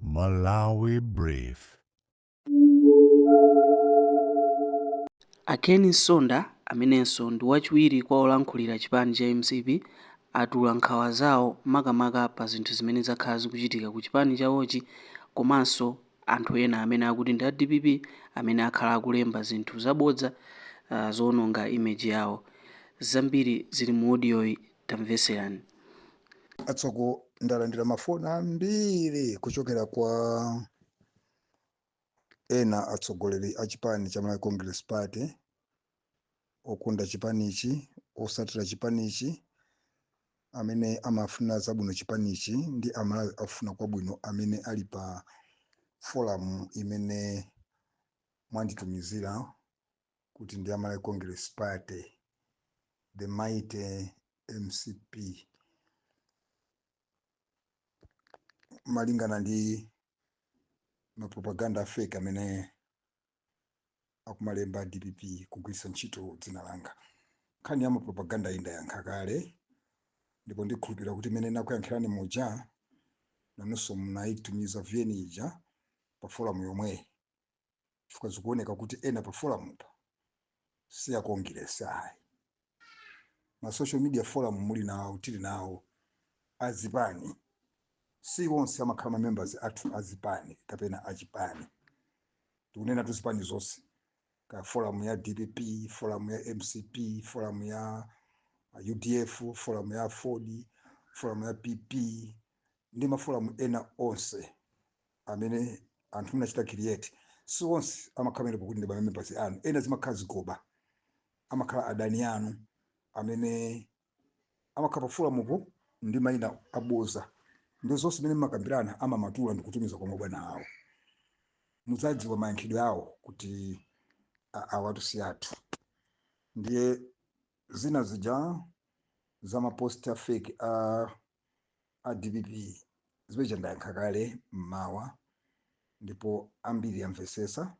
Malawi Brief. A Ken Nsonda, amenenso ndi wachiwiri kwa olankhulira chipani cha mcp, atula nkhawa zawo makamaka pa zinthu zimene zakhala zikuchitika ku chipani chawochi komanso anthu ena amene akuti ndi a dpp amene akhala akulemba zinthu zabodza ah, zowononga image yawo. Zambiri zili mu odiyoyi, tamvetserani. atsogo ndalandira mafoni ambiri kuchokera kwa ena atsogoleri a chipani cha malawi congress party okonda chipanichi otsatira chipanichi amene amafuna zabwino chipanichi ndi amalawi afuna kwabwino amene ali pa forum imene mwanditumizira kuti ndi ya Malawi Congress Party, the mighty mcp. Malingana ndi mapropaganda a fake amene akumalemba a dpp kugwiritsa ntchito dzina langa, nkhani ya mapropaganda iyi ndayankha kale, ndipo ndikhulupirira kuti imene nakuyankhirani muja nanunso munaitumiza VN ija pa forum yomweyi. chifukwa zikuoneka kuti ena pa foramupa si a Kongiresi ayi. Ma social media forum muli nawo, tili nawo a zipani, si onse amakhala ma members athu a zipani kapena a chipani. Ndikunenatu zipani zonse, kaya forum ya dpp, forum ya mcp, forum ya udf, forum ya aford, forum ya PP ndi ma forum ena onse. amene anthu munachita create si onse amakhala pamenepo kuti ndi ma members anu ena zimakhala zigoba amakhala adani anu amene amakhala pa foramupo ndi mayina abodza ndi zonse zimene mmakambirana amamatula ndi kutumiza kwa mabwana awo mudzadziwa mayankhidwe awo kuti a- awatu si athu ndiye zina zija za mapost a fake a dpp zimene zija ndayankha kale mmawa ndipo ambiri amvesesa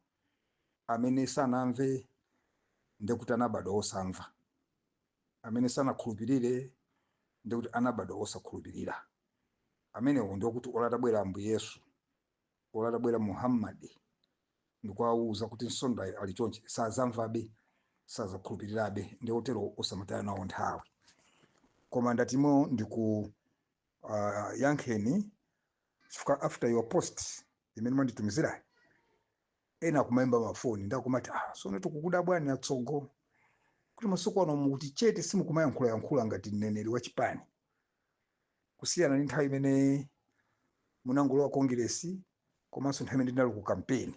amene sanamve ndekuti anabadwa osamva amene sanakhulupirire ndekuti anabadwa osakhulupirira amenewo ndiokuti olo atabwera ambuye yesu olo atabwera muhammad ndikuwauza kuti nsondayo ali chonchi sazamvabe sazakhulupirirabe ndi otero osamataya nawo nthawi koma ndatimo ndiku uh, yankheni chifukwa after your post imene mwanditumizirayi ena akumayimba mafoni ndikumati ah, tsono tikukudabwani atsogo kuti masiku ano mukuti chete simukumayankhulayankhula ngati mneneri wa chipani kusiyana ndi nthawi imene munangolowa Kongeresi komanso nthawi imene ndinali ku kampeni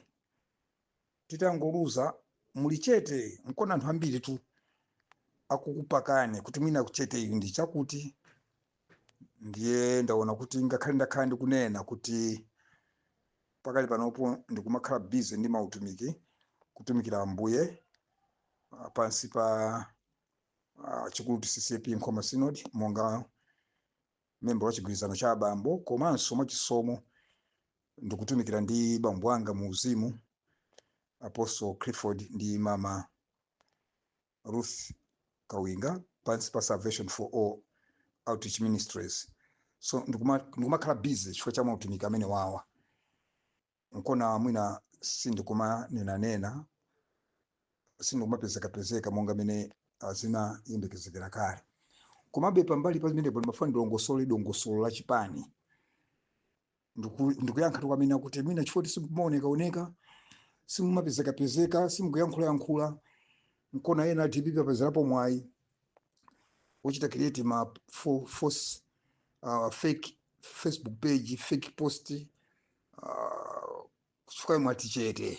titangoluza muli chete nkuona anthu ambiritu akukupakani kuti mwina kucheteyi ndi chakuti ndiye ndaona kuti ngakhale ndakhala ndikunena kuti pakali panopo ndikumakhala bize ndi mautumiki kutumikira ambuye ah, pansi pa ah, church cha CCAP nkhoma synod monga memba wa chigwirizano cha abambo komanso mwachisomo ndikutumikira ndi bambo anga mu uzimu apostle clifford ndi mama ruth kawinga pansi pa salvation for all outreach ministries so ndikuma- ndikumakhala busy chifukwa cha mautumiki amenewawa nkuona mwina sindikumanenanena sindikumapezekapezeka monga mene ah, zimayembekezekera kale komabe pambali pa zimenepo ndimafuna ndilongosole dongosolo la chipani Ndiku- ndikuyankhatu kwa amene akuti mwina chifukwa choti simumaonekaoneka simumapezekapezeka simukuyankhulayankhula nkuona ena a DPP apezerapo mwayi wochita create ma fo- force uh, fake facebook page fake post uh, chifukwa mwati chete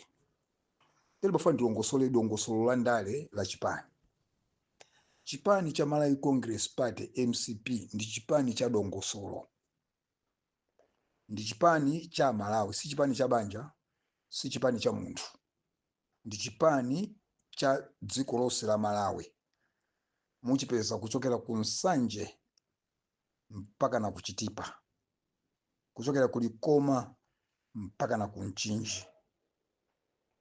Ndiye ndimafuna ndilongosole dongosolo la ndale la chipani chipani cha malawi congress party mcp ndi chipani cha dongosolo ndi chipani cha malawi si chipani cha banja si chipani cha munthu ndi chipani cha dziko lonse la malawi muchipeza kuchokera ku nsanje mpaka na ku Chitipa, kuchokera ku Likoma mpaka na ku Mchinji.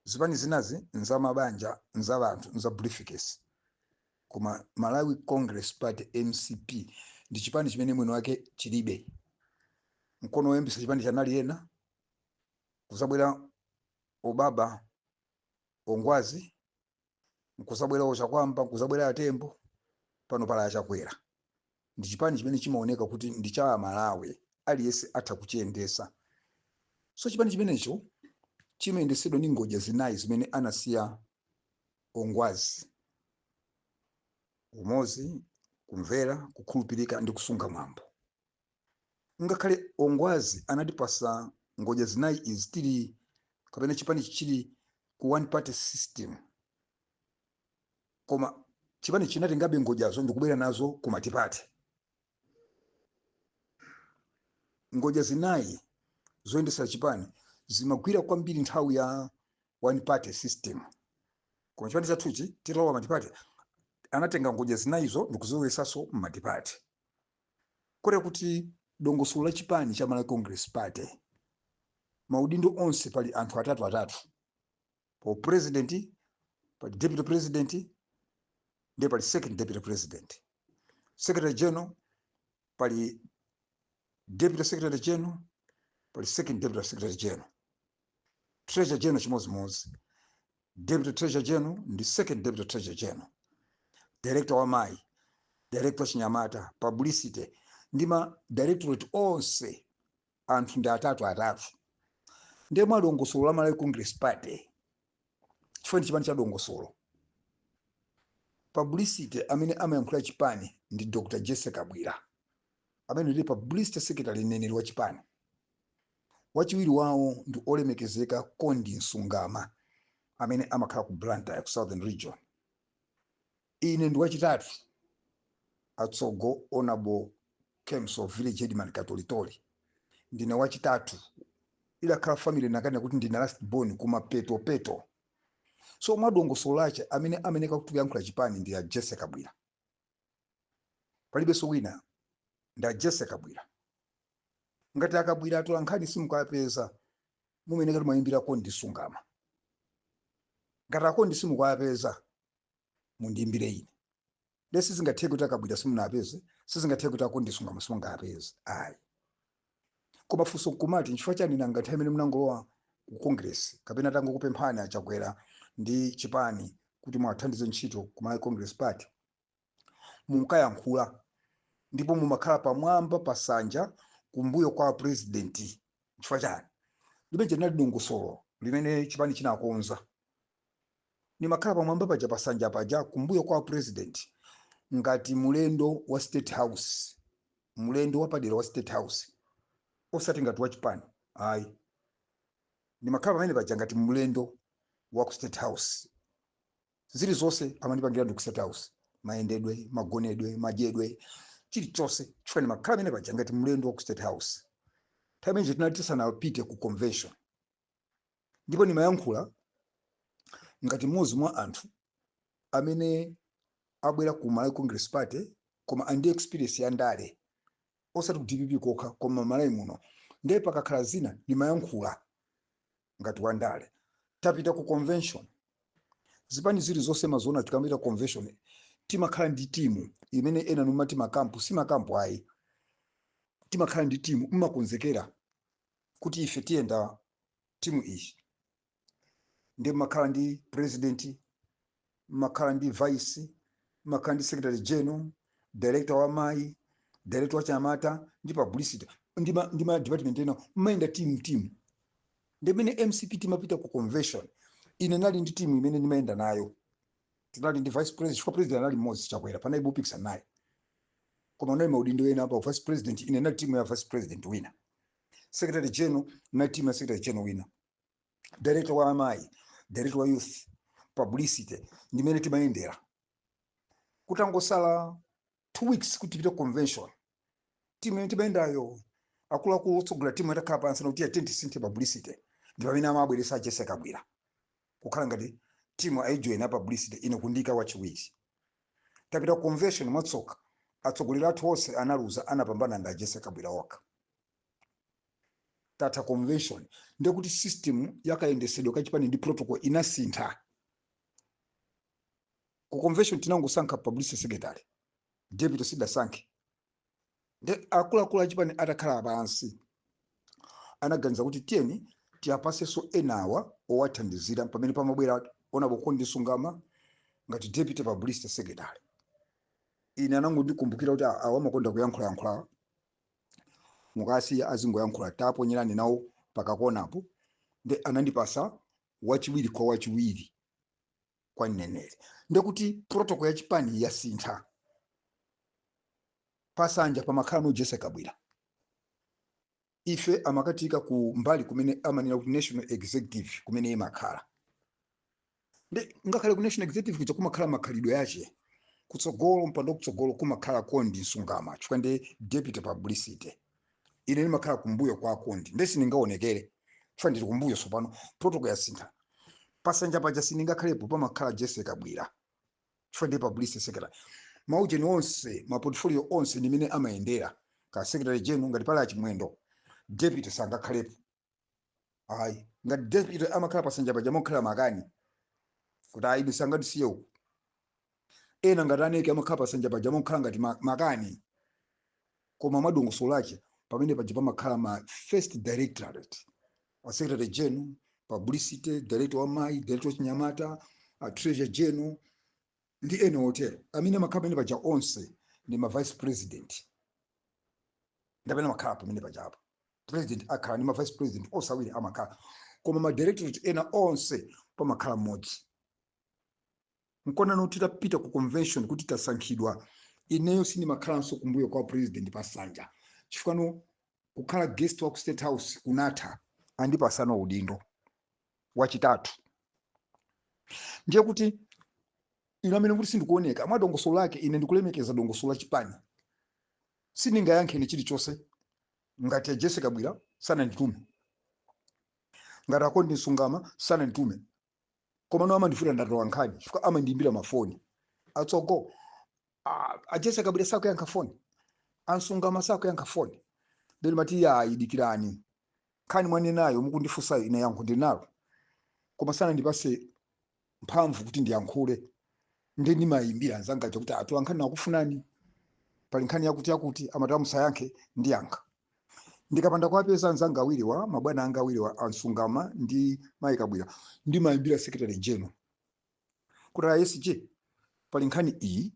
Zipani zinazi nza mabanja, nza banthu, nza briefcase. Koma Malawi Congress Party, mcp, ndi chipani chimene mwini wake chilibe. Nkuona woyambitsa chipanichi anali ena, kuzabwera obaba, ongwazi, nkuzabwera o Chakuamba nkuzabwera a Tembo pano pali a Chakwera ndi chipani chimene chimaoneka kuti ndi cha amalawi aliyense atha kuchiyendesa so chipani chimenecho chimayendesedwa ndi ngodya zinayi zimene anasiya ongwazi umozi kumvera kukhulupirika ndi kusunga mwambo ngakhale ongwazi anatipasa ngodya zinayi izi tili kapena chipani chili ku one party system koma chipani chinatengabe ngodyazo ndikubwera nazo ku matipati ngodya zinayi zoyendesa chipani zimagwira kwambiri nthawi ya one party system koma chipani chathuchi titalowa matipati anatenga ngodya zinayizo ndikuzibweresaso mmatipati Kotero kuti dongosolo la chipani cha Malawi Congress Party, maudindo onse pali anthu atatu atatu. Pa u president, pali deputy president, ndiye pali second deputy president. Secretary General, pali deputy secretary general, pali second deputy secretary general. treasurer general chimodzimodzi deputy treasurer general ndi second deputy treasurer general director wa amayi director wa achinyamata publicity ndi ma directorate onse anthu ndi atatu atatu ndiye mwa dongosolo la malawi congress party chifukwa ndi chipani cha dongosolo publicity amene amayankhulira chipani ndi dr jessie kabwila amene ndi publicity secretary mneneri wa chipani Wachiwiri wawo ndi Olemekezeka Ken Msonda amene amakhala ku Blantyre ku Southern Region. Ine ndi wachitatu Atsogo Honourable Ken Msonda Village Headman Katolitoli. Ndine wachitatu. Idakhala family inakanena kuti ndine last born koma peto peto. So mwadongosolo lache amene ameneka kuti kuyankhula chipani ndi a Jesse Kabwila. palibenso wina ndi a jessie kabwila ngati a kabwila atola nkhani simukuwapeza mumayeneka kuti muyimbire kondi msungama ngati a kondi simukuwapeza mundiimbire ine nde sizingatheke kuti a kabwila simunawapeze sizingatheke kuti a kondi msungama simungawapeze ayi Koma funso nkumati nchifukwa chani nanga nthawi imene munangolowa ku Congress kapena atangokupemphani a Chakwera ndi chipani kuti muwathandize ntchito ku Malawi Congress Party munkayankhula ndipo mumakhala pamwamba pa nsanja kumbuyo kwa president nchifukwa chani limenelo linali dongosolo limene chipani chinakonza Nimakhala pamwamba paja pa nsanja paja kumbuyo kwa president ngati mlendo wa state house, mlendo wapadera wa state house osati ngati wachipani ayi. Ndimakhala pamene paja ngati mlendo wa ku state house. Zilizonse amandipangira ndi ku state house, mayendedwe, magonedwe, madyedwe, chilichonse chifukwa ndimakhala pamene paja ngati mlendo wa ku state house. Nthawi imeneyi tinali tisanapite ku convention. ndipo ndimayankhula ngati mmodzi mwa anthu amene abwera ku malawi congress party koma ali ndi experience ya ndale osati ku dpp kokha koma malawi muno ndiye pakakhala zina ndimayankhula ngati wandale tapita ku convention zipani zili zonse mumaziona tikamapita ku convention timakhala ndi timu imene ena numati makampu si makampu ayi timakhala ndi timu mmakonzekera kuti ife tiyenda timu iyi ndi mumakhala ndi president mumakhala ndi vice mumakhala ndi secretary general director wa amayi director wa achinyamata ndi publicity ndi ma, ndi ma department ena mumayenda timu timu ndimene mcp timapita ku convention ine ndinali ndi timu imene ndimayenda nayo tinali ndi vice president chifukwa president anali mmodzi chakwera panalibe opikisana naye koma kunali maudindo ena apa vice president ine ndinali timu ya vice president wina secretary general ndinali timu ya secretary general wina director wa amayi director wa youth publicity ndimene timayendera kutangosala two weeks kuti tipite convention timu imene timayendayo akuluakulu otsogolera timu atakhala pansi nkuti ah tiyeni tisinthe publicity ndi pamene amabweresa a Jesse Kabwila kukhala ngati timu aijoina publicity ine kundiika wachiwiri Tapita ku convention mwatsoka atsogoleri athu onse analuza anapambana ndi a Jesse Kabwila okha. Tatha convention ndiye kuti system ya kayendesedwe ka chipani ndi protocol inasintha. Ku convention tinangosankha publicity secretary, deputy sitidasankhe. nde akuluakulu achipani atakhala pansi anaganiza kuti tiyeni tiyapasenso enawa owathandizira pamene pamabwera honourable Kondi Msungama ngati deputy publicity secretary ine anangondikumbukira kuti awa amakonda kuyankhulayankhulawa mukawasiya azingoyankhula taponyerani nawo pa kakonapo nde anandipasa wachiwiri kwa wachiwiri kwa mneneri ndiye kuti protocol ya chipani yasintha pasanja pamakhala ano a Jesse Kabwila ife amakatiika ku mbali kumene amanena kuti national executive kumene imakhala nde ngakhale ku national executive kuja kumakhala makhalidwe ake kutsogolo mipando yakutsogolo kumakhala Kondi Msungama chifukwa ndi deputy publicity ine ndimakhala kumbuyo kwa a Kondi nde sindingaonekere chifukwa ndili kumbuyo tsopano protocol yasintha pasanja paja sindingakhalepo pamakhala Jesse Kabwila chifukwa ndi publicity secretary maujeni onse maportfolio onse ndimene amayendera ka secretary general ngati pali a Chimwendo deputy sangakhalepo ayi ngati deputy amakhala pasanja paja mokhala makani kuti ayi ndisangatisiye uku ena ngati a Neke amakhala pasanja paja mokhala ngati ma- makani koma mwadongosolo lache pamene paja pamakhala ma first directorate a secretary general publicity director wa amayi director wa achinyamata a treasurer general ndi ena otere amene amakhala pamene paja onse ndi ma vice president ndi amene amakhala pamene pajapo president akhala ndi ma vice president onse awiri amakhala koma ma directorate ena onse pamakhala mmodzi nkona titapita ku convention kuti tasankhidwa ineyo sindimakhalanso kumbuyo kwa president pasanja chifukwa kukhala guest wa ku state house kunatha andipasano udindo wachitatu ndiye kuti ine amene kuti sindikuoneka mwa dongosolo lake ine ndikulemekeza dongosolo la chipani sindingayankhe chilichonse ngati a jessie kabwira sananditume ngati a ken msungama sananditume komano amandifuna nda atolankhani chifukwa amandiimbira mafoni atsogo Ah, a jessie kabwira sakuyankha foni a msungama sakuyankha foni nde ndimati iyayi dikirani nkhani mwanenayo mukundifunsayo ine yankho ndinalo koma sanandipase mphamvu kuti ndiyankhule ndi ndimayimbira anzanga aja kuti atolankhani akukufunani pali nkhani yakuti yakuti amati awa musayankhe ndiyankha ndikapanda kuwapeza anzanga awiriwa mabwana anga awiriwa a msungama ndi mayi kabwira ndimayimbira secretary general kuti a SG pali nkhani iyi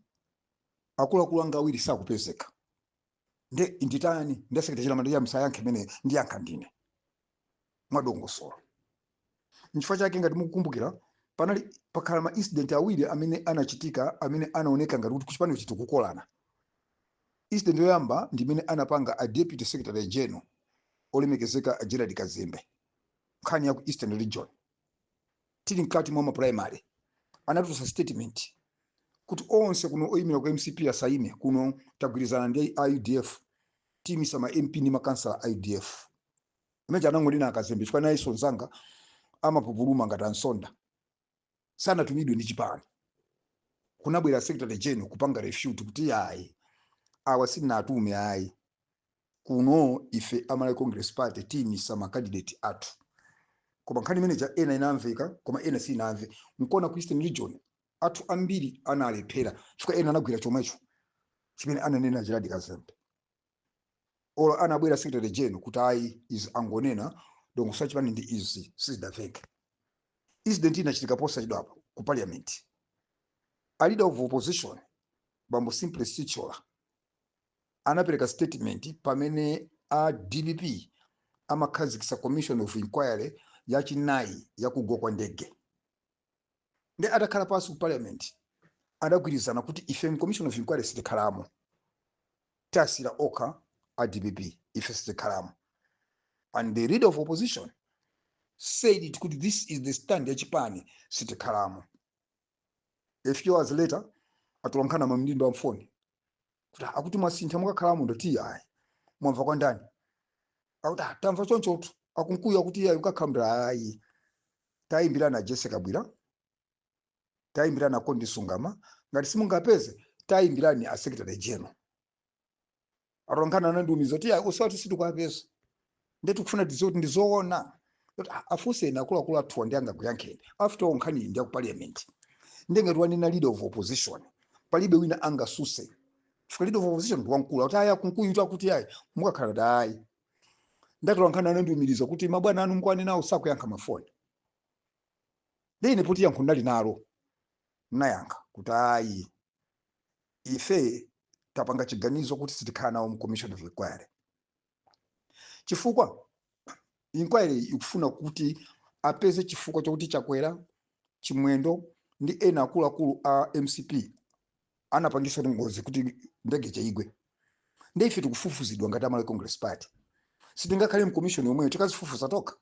akuluakulu anga awiri sakupezeka nde nditani nde a secretary general amandiuza musayankhe imeneyo ndiyankha ndine mwadongosolo nchifukwa chake ngati mukukumbukira panali pakhala ma incident awiri amene anachitika amene anaoneka ngati kuti kuchipani sitikukolana incident yoyamba ndi imene anapanga a deputy secretary general olemekezeka a gerald kazembe nkhani ya ku eastern region tili mkati mwa maprimary anatulutsa statement kuti onse kuno oyimira ku mcp asaime kuno tagwirizana ndi a udf tiimitsa ma mp ndi makansala a udf imene ija anangonena akazembe chifukwa nayenso mzanga amapupuluma ngati ansonda sanatumidwe ndi chipani kunabwera secretary general kupanga refute kuti ayi awa sitinawatume ayi kuno ife a Malawi Congress Party tiyimitsa ma candidate athu koma nkhani imene ija ena inamveka koma ena sinamve nkona ku Eastern Region athu ambiri analephera chifukwa ena anagwira chomwecho chimene ananena Gerald Kazembe olo anabwera Secretary General kuti ayi izi angonena dongosolo la chipani ndi izi sizidaveke incident inachitika posachedwapa ku parliament a leader of opposition bambo Simplex Chithyola anapereka statement pamene a dpp amakhazikitsa commission of inquiry yachinayi yakugwa kwa ndege ndi atakhala pansi ku parliament adagwirizana kuti ife mu commission of inquiry sitikhalamo tasira okha a dpp ife sitikhalamo and the leader of opposition said it kuti this is the stand ya chipani sitikhalamo a few hours later atolankhana amandimbira mafoni kuti "Ah, akuti mwasintha mukakhalamo ndati ayi mwamva kwa ndani akuti "Ah, tamva chonchotu akunkuyu akuti yayi mukakhalamo ndati ayi tayimbirani a Jessie Kabwila tayimbirani a Kondi Msungama ngati simungawapeze tayimbirani asekretary general atolankhani anandiumiriza kuti ayi usg sitikuapeza nde tikufuna tidziwe kuti ndi zoona kuti a- afunseni akuluakulu athuwa ndi angakuyankheni after all nkhaniyi ndi ya ku parliament nde ngati wanena leader of opposition palibe wina angatsutse chifukwa leader of opposition ndi wamkulu akuti ayi a kunkuyu kuti akuti ayi mukakhala ndati ayi nde atolankhani anandiumiriza kuti mabwana anu mukuwanenawo sakuyankha mafoni nde ine poti yankho ndinali nalo nayankha kuti ayi ife tapanga chiganizo kuti sitikhala nawo mu commission of inquiry chifukwa inquiry ikufuna kuti apeze chifukwa chokuti chakwera chimwendo ndi ena akuluakulu a mcp anapangitsa ngozi kuti ndege ija igwe nde ife tikufufuzidwa ngati amalawi congress party sitingakhale mkomishoni yomweyo tikadzifufuza tokha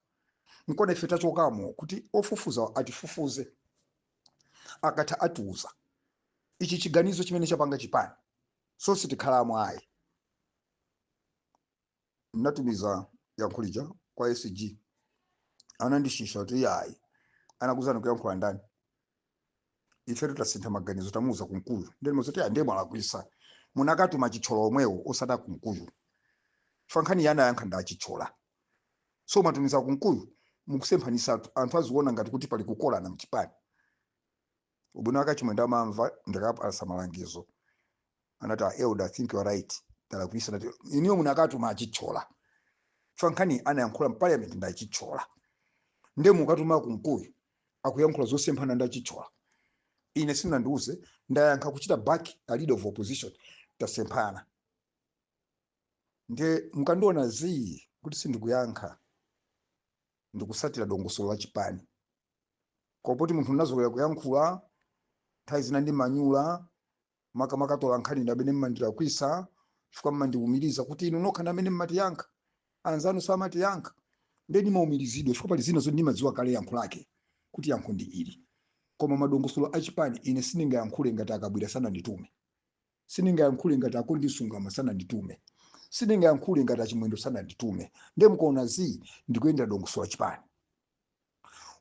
nkona ife tachokamo kuti ofufuza atifufuze akatha atiuza ichi chiganizo chimene chapanga chipani so sitikhalamo ayi natumiza yankho lija kwa sg anandishosha kuti yayi anakuuzani kuyankhula ndani ifetu tasintha maganizo tamuuza kunkuyu nde ndimawauza kuti ah ndiye mwalakwitsa munakatuma a chithyola omwewo osati kunkuyu chifukwa nkhaniyi anayankha ndi achithyola so mwatumiza kunkuyu mukusemphanitsatu anthu aziona ngati kuti pali kukokana mchipani ubwino wake achimwendo amamva ndikawapatsa malangizo anati a elder i think you are right talakwitsa ndati inuyo munakatuma achithyola chifukwa nkhani anayankhula mparliament ndi achithyola nde mukatuma kunkuyu akuyankhula zosemphana ndi achithyola ine simunandiuze ndayankha kuwachita back a leader of opposition tasemphana nde mukandiona zii kuti sindikuyankha ndikutsatira dongosolo la chipani koma poti munthu unazolowera kuyankhula nthawi zina ndimayankhula makamaka atolankhani ndi amene mmandilakwitsa chifukwa mmandiumiriza kuti inu nokha ndi amene mmatiyankha anzanu samatiyankha nde ndimaumirizidwa chifukwa pali zina zoti ndimadziwa kale yankho lake kuti yankho ndi ili koma madongosolo achipani ine sindingayankhule ngati akabwila sananditume Sindingayankhule ngati a Kondi Msungama sananditume. Sindingayankhule ngati a Chimwendo sananditume. Ndiye mukaona zii ndikuyendera dongosolo la chipani.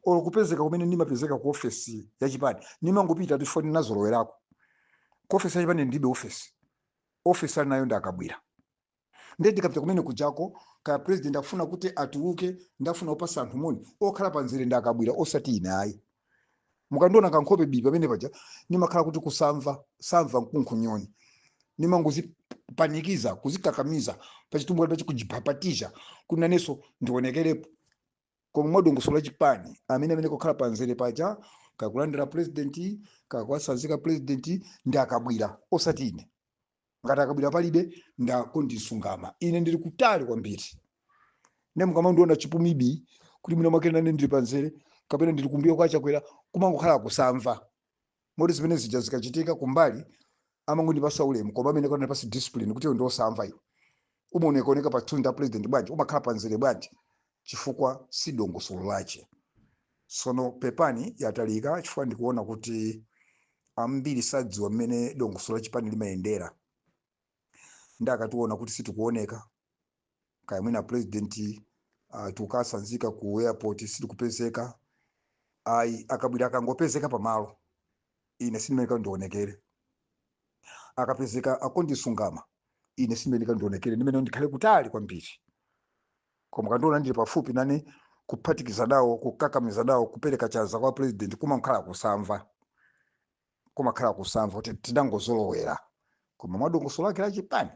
Olo kupezeka kumene ndimapezeka ku ofesi ya chipani, ndimangopita chifukwa ndinazolowerako. Ku ofesi ya chipani ndilibe ofesi. Ofesi ali nayo ndi a Kabwila. ndiye ndikapita kumene kujako kaya president akufuna kuti atuluke nde afuna kupasa anthu moni okhala pa nzere ndi a Kabwila osati ine ayi mukandiona kankhope bii pamene paja nimakhala kuti kusamva samva nkunkhunyoni nimangozipanikiza kuzikakamiza pa Chitumbuka pachi kujipapatiza kuti nanenso ndionekerepo koma mwadongosolo la chipani amene ameneka kukhala pa nzere paja kaya kulandira president kaya kuwasanzika president ndi a Kabwila osati ine ngati a Kabwila palibe ndi a Kondi Msungama ine ndili kutali kwambiri nde mukamandiona chipumi bii kuti mwina mwake nane ndili panzere kapena ndili kumbuyo kwa Chakwera kumangokhala kusamva moti zimene zija zikachitika kumbali amangondipasa ulemu koma ameneka anipase discipline kuti iwe ndiosamva iwe umaonekaoneka pa tour ndi a president bwanji umakhala panzere bwanji chifukwa si dongosolo lache. Sono pepani yatalika chifukwa ndikuona kuti ambiri sadziwa mmene dongosolo la chipani limayendera nde akationa kuti sitikuoneka kaya mwina president uh, tikukasanzika ku airport sitikupezeka ayi a Kabwila akangopezeka pamalo ine sindimeneka ndionekere akapezeka a Kondi Msungama ine sindimeneka ndionekere ndimeneka ndikhale kutali kwambiri Koma ukandiona ndili pafupi nane kuphatikiza nawo kukakamiza nawo kupereka chanza kwa president kumakhala kusamva kumakhala kusamva kuti tidangozolowera koma mwadongosolo lake la chipani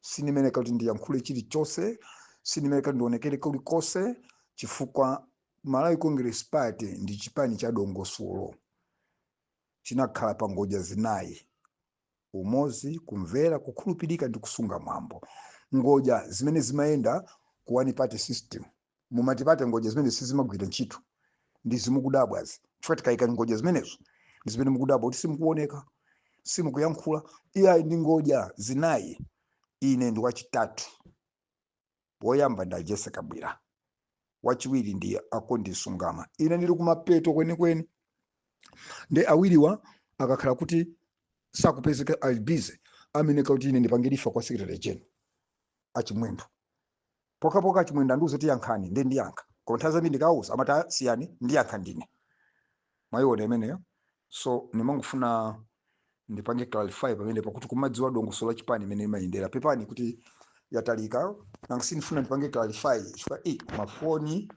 sindimeneka kuti ndiyankhule chilichonse sindimeneka kuti ndionekere kulikonse chifukwa Malawi Congress Party ndi chipani cha dongosolo chinakhala pa ngodya zinayi umodzi, kumvera, kukhulupirika ndi kusunga mwambo. Ngodya zimene zimayenda ku one party system. Mu multiparty ngodya zimenezi sizimagwira ntchito. Ndi zimukudabwazi. Chifukwa tikayika ngodya zimenezo ndi zimene mukudabwa kuti simukuoneka, simukuyankhula. Iyayi ndi ngodya zinayi. Ine ndi wachitatu. Woyamba ndi a Jessie Kabwila, wachiwiri ndi a Kondi Msungama. Ine ndili kumapeto kwenikweni. Nde awiriwa akakhala kuti sakupezeka ali busy ameneka kuti ine ndipange refer kwa secretary general a Chimwendo pokhapokha a Chimwendo andiuze kuti yankhani nde ndiyankha koma nthawi zambiri ndikawauza amati "Ah, siyani ndiyankha ndine mwaiona imeneyo so ndimangofuna ndipange clarify pamene pakuti kumadziwa dongosolo la chipani imene imayendera pepani kuti yatalika nanga sindifuna ndipange clarify chifukwa eh, mafoni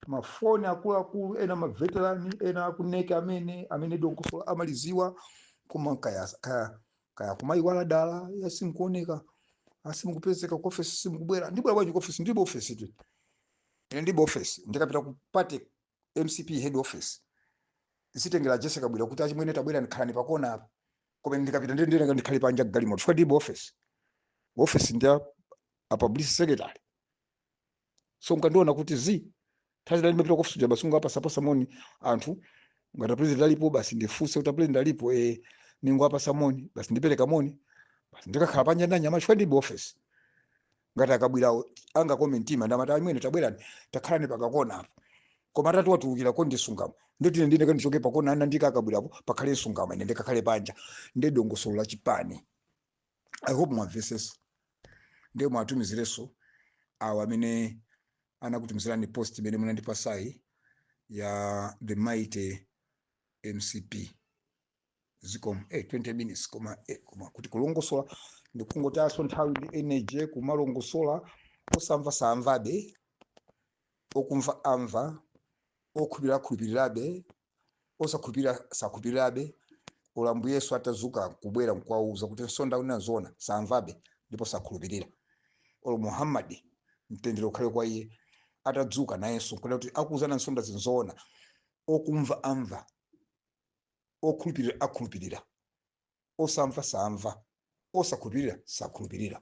mafoni akuluakulu ena maveterani ena akuneke amene amene dongosolo amalidziwa koma kaya, kaya, kaya kumayiwala dala yah simukuoneka simukupezeka ku ofesi simukubwera ndibwera bwanji ku ofesi ndilibe ofesi tu ine ndilibe ofesi ndikapita ku party mcp head office zitengera Jessie Kabwila kuti achimwene tabwerani khalani pakona apa koma ine ndikapita ndiye ndiye ndikhale panja mgalimoto chifukwa ndilibe office office ndi a a publicity secretary so mukandiona kuti zi thazi lali ndapita ku office kuja basi ndingopatsapatsa moni anthu ngati president alipo basi ndifunse kuti president alipo eh ningowapatsa moni basi ndipereka moni basi ndikakhala panja ndi anyamata chifukwa ndilibe office ngati a Kabwilawo angakome mtima ndi kumati achimwene tabwerani takhalani pakakona apo koma atati watulukira ko ndi Msungama ndoti ine ndine kandichoke pakona anandiika a Kabwilapo pakhale Msungama ine ndikakhale panja ndi dongosolo la chipani i hope mwamvetsetsa ndiye muwatumizirenso awo amene anakutumizirani post imene munandipatsayi ya the mighty mcp zikomo eh, 20 minutes koma eh, koma kuti kulongosola ndi kungotayanso nthawi ndi energy kumalongosola osamva saamvabe okumva amva okhulupirira akhulupirirabe osakhulupirira sakhulupirirabe olo Ambuye Yesu atadzuka kubwera nkuwauza kuti Msonda akunena zoona saamvabe ndipo sakhulupirira olo Muhammad mtendere ukhale kwa iye atadzuka nayenso kuti akuuzani a Msonda zi ndi zoona okumva amva okhulupirira akhulupirira, osamva saamva, osakhulupirira sakhulupirira.